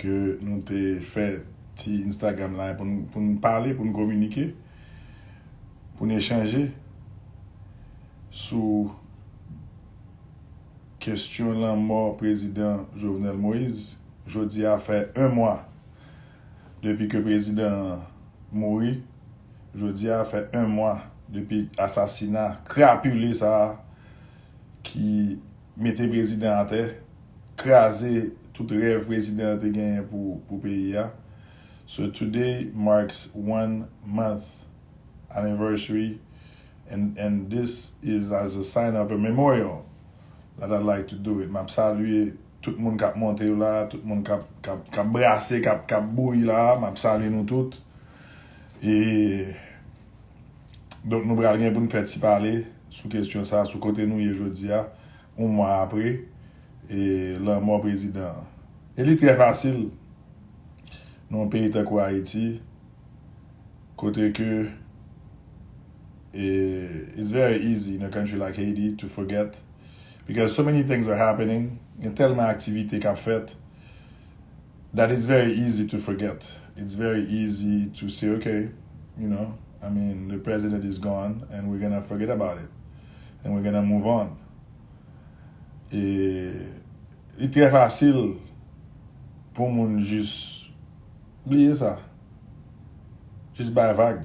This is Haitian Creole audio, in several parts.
ke nou te fè ti Instagram la pou n pale, pou n kominike, pou n echanje sou kestyon lanmò prezidan Jovenel Moise. Jodi a fè 1 mwa depi ke prezidan an mouri. Jodi a fè 1 mwa depi asasina krapile sa a ki. mete prezidan atè, kraze tout rèv prezidan an te genyen pou peyi a. So today marks one month anniversary and this is as a sign of a memorial that I'd like to do it. Map salye tout moun kap monte yo la, tout moun kap brase, kap bouyi la, map salye nou tout. Donk nou pral gen pou n fè ti pale sou kesyon sa, sou kote nou ye jodi a, yon mwa apre lanmò prezidan an. E li trè fasil nan yon peyi tankou Ayiti, kote ke it's very easy in a country like Haiti to forget because so many things are happening, gen tèlman aktivite k ap fèt, that it's very easy to forget, it's very easy to say ok, you know, I mean the president is gone and we're gonna forget about it and we're gonna move on. E li trè fasil pou moun jis bliye sa, jis bay vag.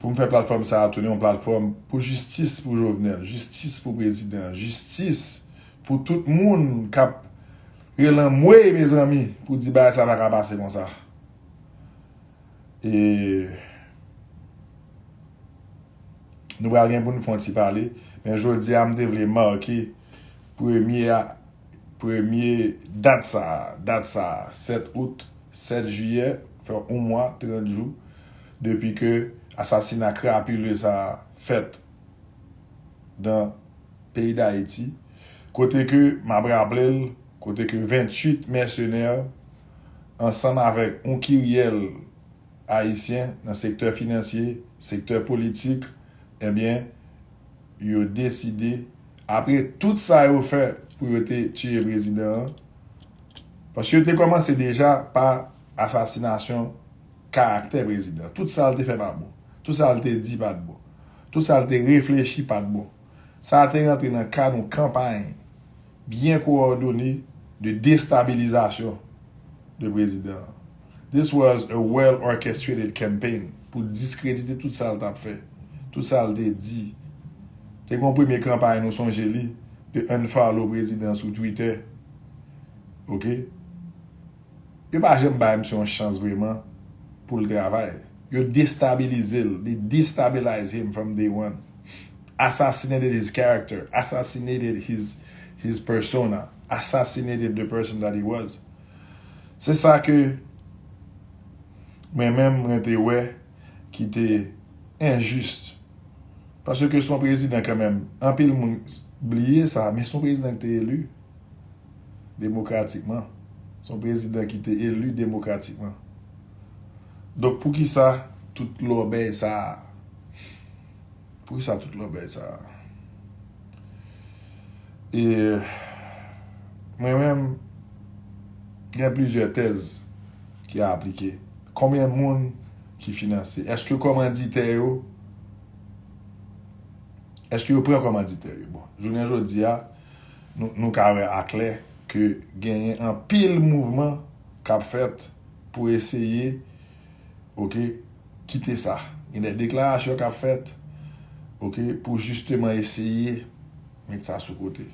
Pou m fè platfòm sa a tounen yon platfòm pou jistis pou Jovenel, jistis pou prezidan an, jistis pou tout moun k ap rele anmwey mezanmi pou di bagay sa pa ka pase konsa. E Nou pral gen pou n fè yon ti pale men jodi a m te vle make premye Premye dat sa a, dat sa a, 7 out, 7 jiyè, fè yon mwa, 30 jou depi ke asasina krapile sa a fèt nan peyi Dayiti, kote ke, m ap raple l, kote ke 28 mèsenè ansanm avèk yon kiryèl ayisyen nan sektè finansye, sektè politik, enben, yo deside apre tout sa yo fè pou yo te tiye prezidan an, paske yo te kòmanse deja pa asasinasyon karaktè prezidan, tout sa l te fè pa bon, tout sa l te di pa t bon, tout sa l te reflechi pa t bon, sa te rantre nan kad yon kanpay. byen kowòdone de destabilizasyon de prezidan an. This was a well orchestrated campaign pou diskredite tout sa l t ap fè, tout sa l te di. Te gen yon premye kanpay nou sonje li de unfollow prezidan sou Twitter. Ok. Yo pa janm bay misye yon chans vreman pou l travay. Yo destabilize l. They destabilize him from day one. Assassinated his character. Assassinated his his persona. Assassinated the person that he was. Se sa ke mwen menm mwen te wè ki te injuste. Paske se yon prezidan kanmenm. Anpil moun bliye sa men se yon prezidan ki te elu. demokratikman, se yon prezidan ki te eli demokratikman. Donk poukisa tout lòbèy sa a? Poukisa tout lòbèy sa a? E mwen menm gen plizyè tèz ki a aplike. Konbyen moun ki finanse? Eske kòmanditè yo, eske yo pran kòmanditè yo? Bon, jounen jodi a, Nou ka wè aklè ke genyen anpil mouvman k ap fèt pou eseye ok kite sa. Gen de deklarasyon k ap fèt ok pou jisteman eseye met sa sou kote,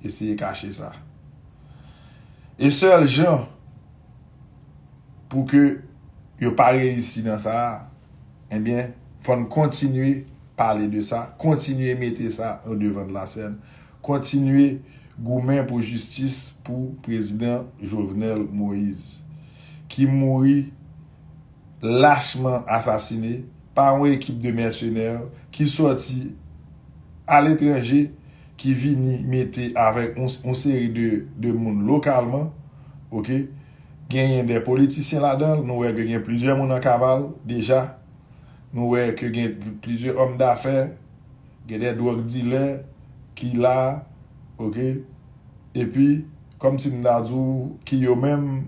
eseye kache sa. E sèl jan pou ke yo pa reyisi nan sa, enbyen fò n kontinye pale de sa, kontinye mete sa o devan de la sèn, Kontinye goumen pou jistis pou prezidan Jovenel Moise ki mouri lachman asasine pa yon ekip de mèsenè ki sòti aletranje ki vini mete avèk yon seri de moun lokalman ok genyen de politisyen ladanl nou wè ke gen plizyè moun an kaval deja nou wè ke gen plizyè òm dafè Gen de drug dilè ki la ok epi kom si m ta di w ki yo menm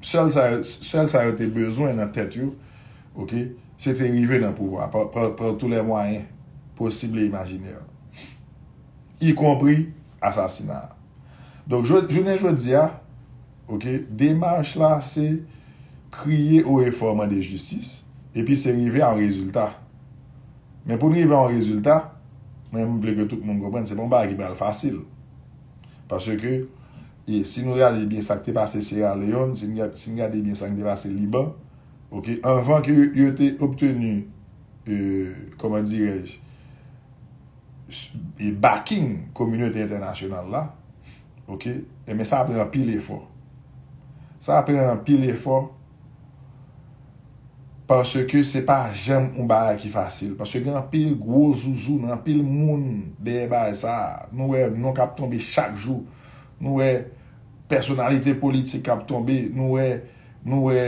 sèl sa yo sèl sa yo te bezwen nan tèt yo ok se te rive nan pouvwa par tou lè mwayen posib e imajinè y konpri asasina donk jounen jodi a ok demach la se kriye o e fò mande jistis epi se rive a yon rezilta. Men pou n rive a yon rezilta, mwen m vle ke tout moun konprann se pa yon bagay ki pral fasil. Paske si nou reyalize byen sa k te pase Sierra Leone, si n gade byen sa k te pase Liban, ok, anvan ke yo te obteni, kòman dirèj, backing kominote entènasyonal la, ok, enben sa pran anpil efò. Sa pran anpil efò. Paske se pa janm yon bagay ki fasil. Paske gen anpil gwo zouzoun, anpil moun dèyè bagay sa a. Nou wè non k ap tonbe chak jou. Nou wè pèsonalite politik k ap tonbe. Nou wè, nou wè,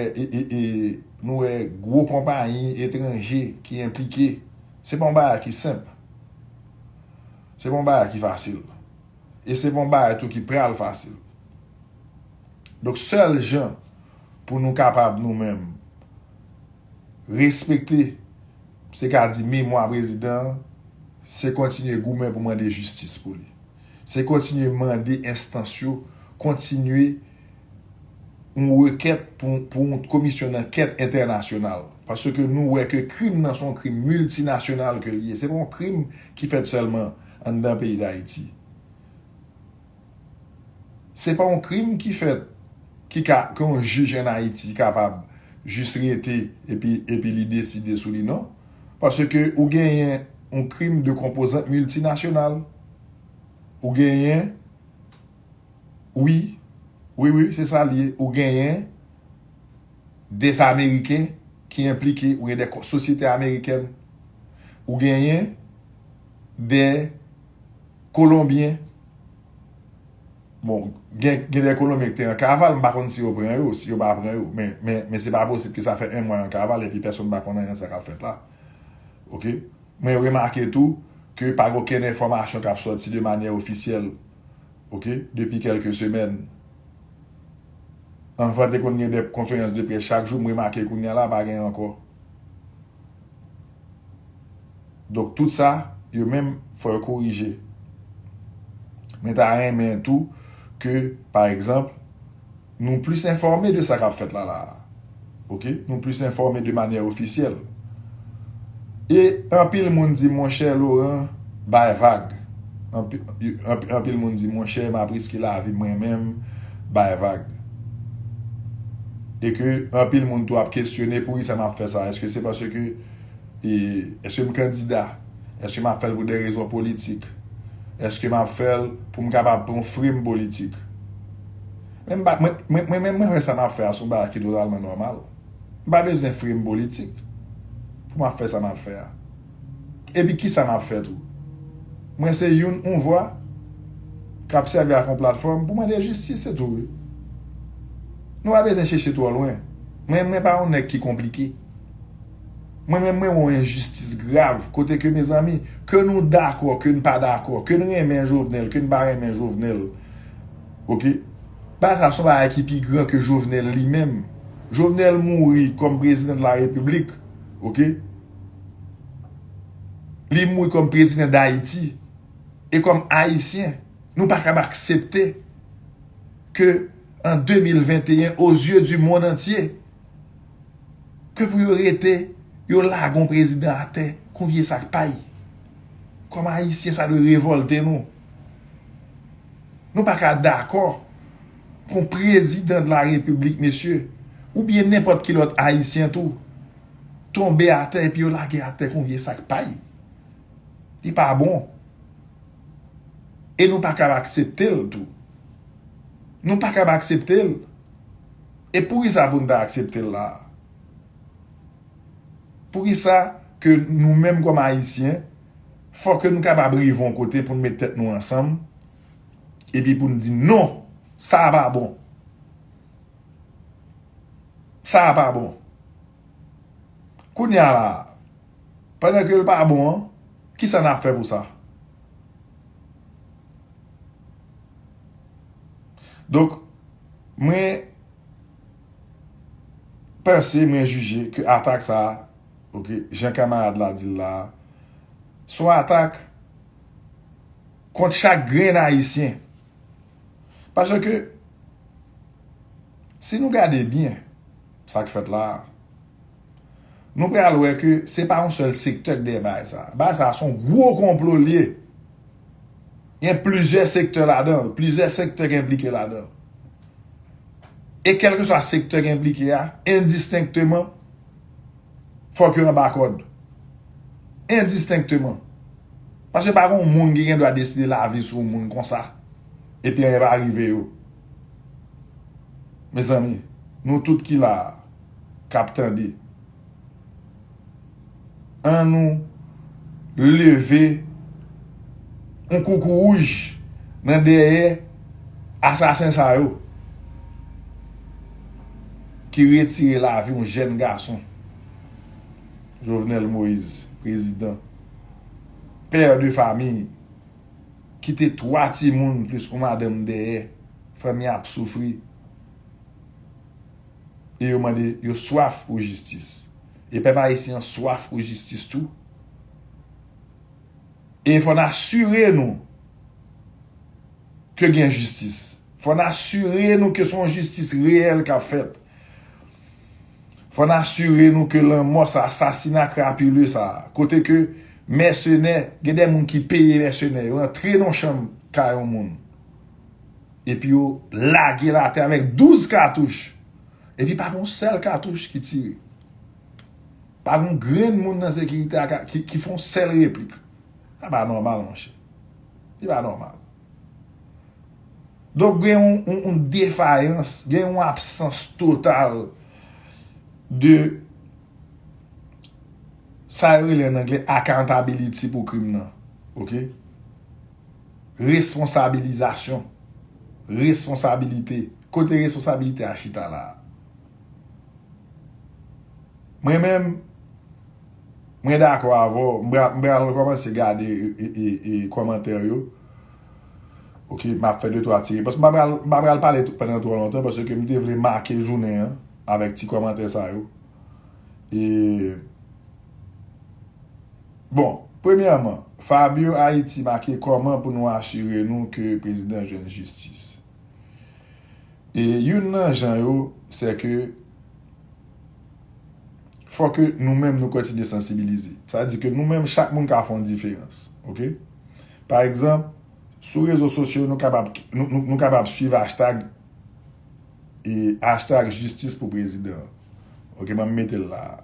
nou wè gwo konpayi etranje ki enplike. Se pa yon bagay ki senp. Se pa yon bagay ki fasil. E se pa yon bagay tou ki pral fasil. Donk sèl jan pou nou kapab nou menm respekte se ka di memwa prezidan an se kontinye goumen pou mande jistis pou li se kontinye mande enstans yo kontinye yon rekèt pou yon komisyon dankèt entènasyonal paske nou wè ke krim nan son krim miltinasyonal ke li ye se pa yon krim ki fèt sèlman anndan peyi dayiti. Se pa yon krim ki fèt ki ka ke yon jij an Ayiti kapab jis rete epi epi li deside sou li non. Paske ou genyen yon krim de konpozant miltinasyonal. Ou genyen wi, wi wi se sa li ye, ou genyen des ameriken ki enplike, ou genyen des sosyete amerikèn. Ou genyen des. Kolonbyen, bon, gen de Kolonbyen ki te an kaval, m pa konn si yo pran yo, si yo pa pran yo, men se pa posib ke sa fè 1 mwa yo an kaval epi pèsonn pa konn anyen sa kap fèt la. Ok. Mwen remake tou ke pa gen okenn enfòmasyon kap sòti de manyè ofisyèl, ok, depi kèlke semèn. Anvan te konn gen de konferans de près chak jou, m remake kounya la pa gen ankò. Donk tout sa yo menm fò yo korije. Mwen ta renmen tou ke pa egzanp nou plis enfòme de sa kap fèt la la a. Ok nou plis enfòme de manyè ofisyèl. E anpil moun di monchè Loran bay vag. Anpil moun di monchè map riske lavi mwen menm. bay vag. E ke anpil moun tou ap kesyone poukisa map fè sa? Eske se paske e eske m kandida? Eske map fèl pou de rezon politik? Eske map fèl pou m kapab pran yon frime politik? Men m pa mwen mwen mwen menm mwen wè sa map fè a se yon bagay ki totalman nòmal. M pa bezwen frime politik pou map fè sa map fè a. Epi kisa map fè tou? Mwen se youn on vwa kap sèvi ak on platfòm pou mande jistis se tou wi. Nou pa bezwen chèche twò lwen. Mwen mwen pa on nèg ki konplike. Mwen menm mwen wè on enjistis grav kote ke mezanmi ke nou dakò ke n pa dakò ke n renmen Jovenel ke n pa renmen Jovenel ok bagay sa son bagay ki pi gran ke Jovenel li menm. Jovenel mouri kòm prezidan de la repiblik ok. Li mouri kòm prezidan Dayiti. E kòm Ayisyen, nou pa kab aksepte ke an 2021, o zye di mond antye, ke pou yo rete, yo lage yon prezidan atè kon vye sak pay. Kòm Ayisyen, sa dwe revòlte nou. Nou pa ka dakò pou yon prezidan de la Repiblik, mesye, ou byen nenpòt ki lòt Ayisyen tou, tonbe atè epi yo lage atè kon vye sak pay. Li pa bon. E nou pa kab aksepte l tou. Nou pa kab aksepte l. E pou ki sa pou n ta aksepte l la a? Pou ki sa ke nou menm kòm Ayisyen, fò ke nou kapab rive yon kote pou n met tèt nou ansanm, epi pou n di non, sa a pa bon. Sa a pa bon. Kounye a la a, pandan ke l pa bon an, ki sa n ap fè pou sa? Donk, mwen panse, mwen jije ke atak sa a, ok, jan kamarad la di l la a, s on atak kont chak grenn Ayisyen. Pase ke, si nou gade byen sa k fèt la a, nou pral wè ke se pa yon sèl sektè k dèyè bagay sa a. Bagay sa a se yon gwo konplo l ye. Gen plizyè sektè ladan l, plizyè sektè ki enplike ladan l. E kèlkeswa sektè ki enplike a, endistenkteman, fòk yo anba kòd. Endistenkteman. Paske pa gon moun ki gen dwa deside lavi sou moun konsa epi anyen pa rive yo. Mezanmi, nou tout ki la a, k ap tande, an nou leve yon koukouwouj nan dèyè asasen sa yo ki retire lavi yon jèn gason. Jovenel Moïse, Prezidan. père de famille kite 3 timoun plis yon madanm dèyè fanmi ap soufri e yo mande yo swaf pou jistis e pèp ayisyen an swaf pou jistis tou e fò n asire nou ke gen jistis fò n asire nou ke son jistis reyèl kap fèt. Fò n asire nou ke lanmò sa, asasina krapile sa, kote ke mèsenè, gen de moun ki peye mèsenè yo antre nan yon chanm kay yon moun, epi yo lage l atè avèk 12 katouch, epi pa gen yon sèl katouch ki tire. Pa gen yon grenn moun nan sekirite a ki fè yon sèl replik. Sa pa nòmal monchè. Li pa nòmal. Donk gen yon defayans, gen yon absans total de sa yo rele an angle akantabiliti pou krim nan. Ok? Responsabilizasyon. Responsabilite. Kote responsabilite a chita la? Mwen menm. Mwen dakò avè w, m pral rekòmanse gade kòmantè yo ok m ap fè de twa ti repons m pa pral pale pandan twò lontan paske m te vle make jounen an avèk ti kòmantè sa yo e bon premyèman Fabio Haïti make kòman pou nou asire nou ke prezidan jwenn jistis. E youn nan jan yo, se ke fò ke nou menm nou kontinye sansibilize. Sa di ke nou menm chak moun ka fè yon diferans. Ok? Pa egzanp, sou rezo sosyo nou kapab, nou kapab swiv ashtag e ashtag jistis pou prezidan. Ok, banm mete l la a.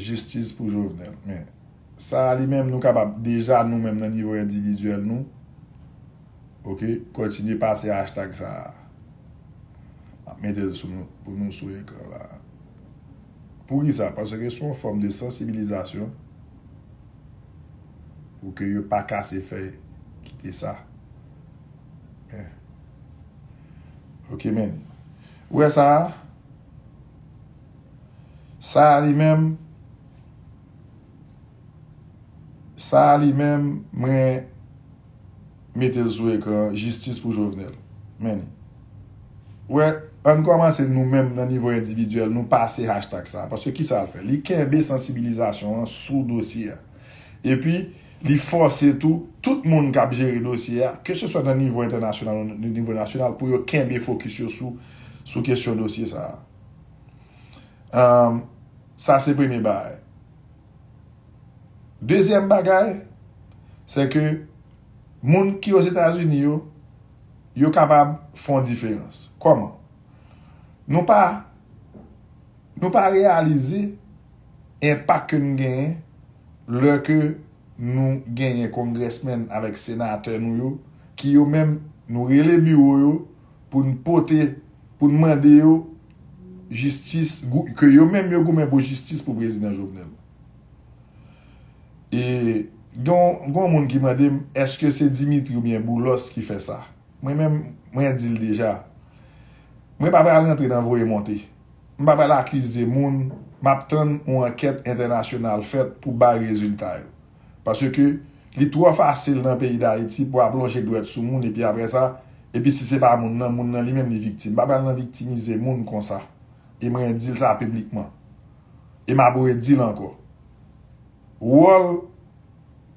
Jistis pou Jovenel. Men, sa a li menm nou kapab deja nou menm nan nivo endividyèl nou, ok kontinye pase hashtag sa a map metel sou nou pou nou sou ekran la poukisa paske se yon fòm de sansibilizasyon pou ke yo pa kase fèy kite sa men ok men ou wè sa a sa a li menm. Sa a li menm mwen metel sou ekran jistis pou jovenel meni wè ann kòmanse nou menm nan nivo endividyèl nou pase hashtag sa a paske kisa l fè li kenbe sansibilizasyon an sou dosye a epi li fòse tou tout moun k ap jere dosye a ke se swa nan nivo entènasyonal ou nan nivo nasyonal pou yo kenbe fokis yo sou sou kesyon dosye sa a sa se premye bagay. Dezyèm bagay, se ke moun ki Ozetazini yo, yo kapab fè yon diferans. Kòman? Nou pa, nou pa reyalize enpak ke nou genyen lè ke nou genyen kongrèsmèn avèk senatè nou yo ki yo menm nou rele biwo yo pou n pote, pou n mande yo jistis, ke yo menm yo goumen pou jistis pou Prezidan Jovenel. E gen yon moun ki mande m, eske se Dimitri ou byen Boulos ki fè sa? Mwen menm, mwen di l deja, mwen pa pral rantre nan voye monte. M pa pral akize moun, m ap tann yon ankèt entènasyonal fèt pou bay rezilta yo. Paske li twò fasil nan peyi Dayiti pou ap lonje dwèt sou moun epi aprè sa, epi si se pa moun nan, moun nan li menm li viktim. M pa pral nan viktimize moun konsa. E mwen di l sa piblikman. E m ap redi l ankò. Wòl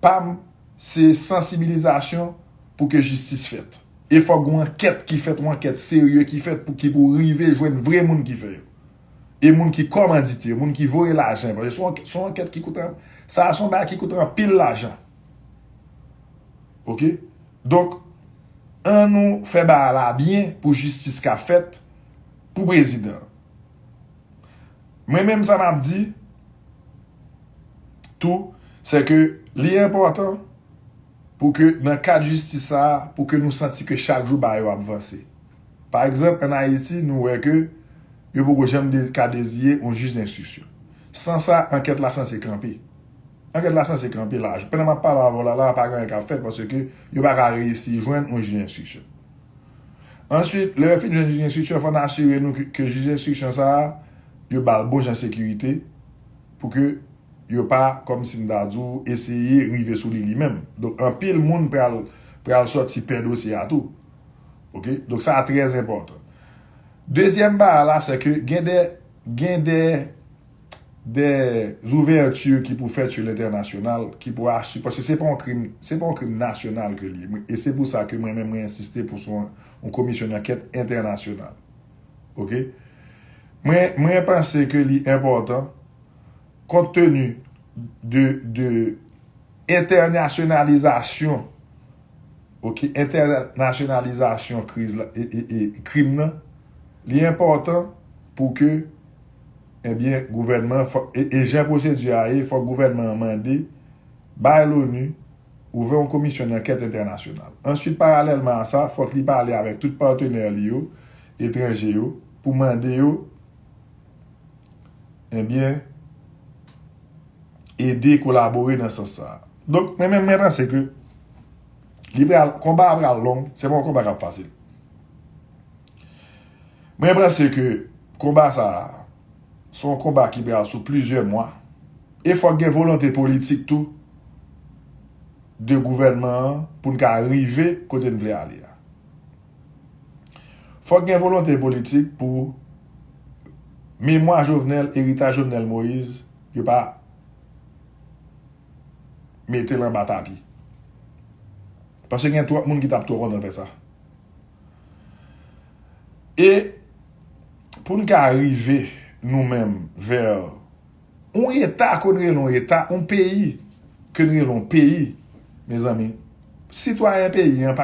pa m se sansibilizasyon pou ke jistis fèt. E fòk gon ankèt ki fèt, yon ankèt serye ki fèt pou ki pou rive jwenn vre moun ki fè yo. e moun ki kòmandite yo, moun ki voye lajan, paske son ankèt, son ankèt ki koute, sa a son bagay ki koute anpil lajan. Ok? Donk, an nou fè bagay la byen pou jistis ka fèt pou prezidan. Mwen menm sa m ap di, tou, se ke li enpòtan pou ke nan kad jistis sa a, pou ke nou santi ke chak jou bagay yo ap vanse. Pa egzanp, ann Ayiti, nou wè ke yo poko janm ka deziye yon jij denstriksyon. San sa, ankèt la sanse kanpe. Ankèt la sanse kanpe la. Pandan m ap pale avè w la la a, pa gen anyen k ap fèt paske yo pa ka reyisi jwenn yon jij denstriksyon. Answit, lè yo fin jwenn jij denstriksyon, fò n asire nou ke jij denstriksyon sa a, yo ba l bon jan sekirite pou ke yo pa, kòm si m ta di w, eseye rive sou li li menm. Donk, anpil moun pral sòti pè dosye a tou. Ok donk sa a trè enpòtan. Dezyèm ba a la se ke gen de gen de de zouvèti ki pou fèt sou lentènasyonal ki pou asire paske se pa yon krim se pa yon krim nasyonal ke li ye e se pou sa ke mwen menm mwen ensiste pou son yon komisyon dankèt entènasyonal. Ok mwen mwen panse ke li enpòtan kont teni de de Entènasyonalizasyon ok entènasyonalizasyon kriz la e krim nan li enpòtan pou ke ebyen gouvènman e jan pwosedi a ye fòk gouvènman an mande bay loni ouvè yon komisyon dankèt entènasyonal answit paralèlman a sa fòk li pale avèk tout patenè li yo etranje yo pou mande yo ebyen. ede kolabore nan sans sa a. Donk, mwen menm mwen panse ke li pral, konba a pral long, se pa yon konba k ap fasil. Mwen panse ke konba sa a, se yon konba ki pral sou plizyè mwa, e fòk gen volonte politik tou de gouvènman an pou n ka rive kote n vle ale a. Fòk gen volonte politik pou memwa Jovenel, eritaj Jovenel Moïse yo pa mete l anba tapi. Paske gen twòp moun ki t ap twò kontan fè sa. E pou n ka rive nou menm vè yon eta ke n rele yon eta, yon peyi ke n rele yon peyi, mezanmi, sitwayen peyi an pa.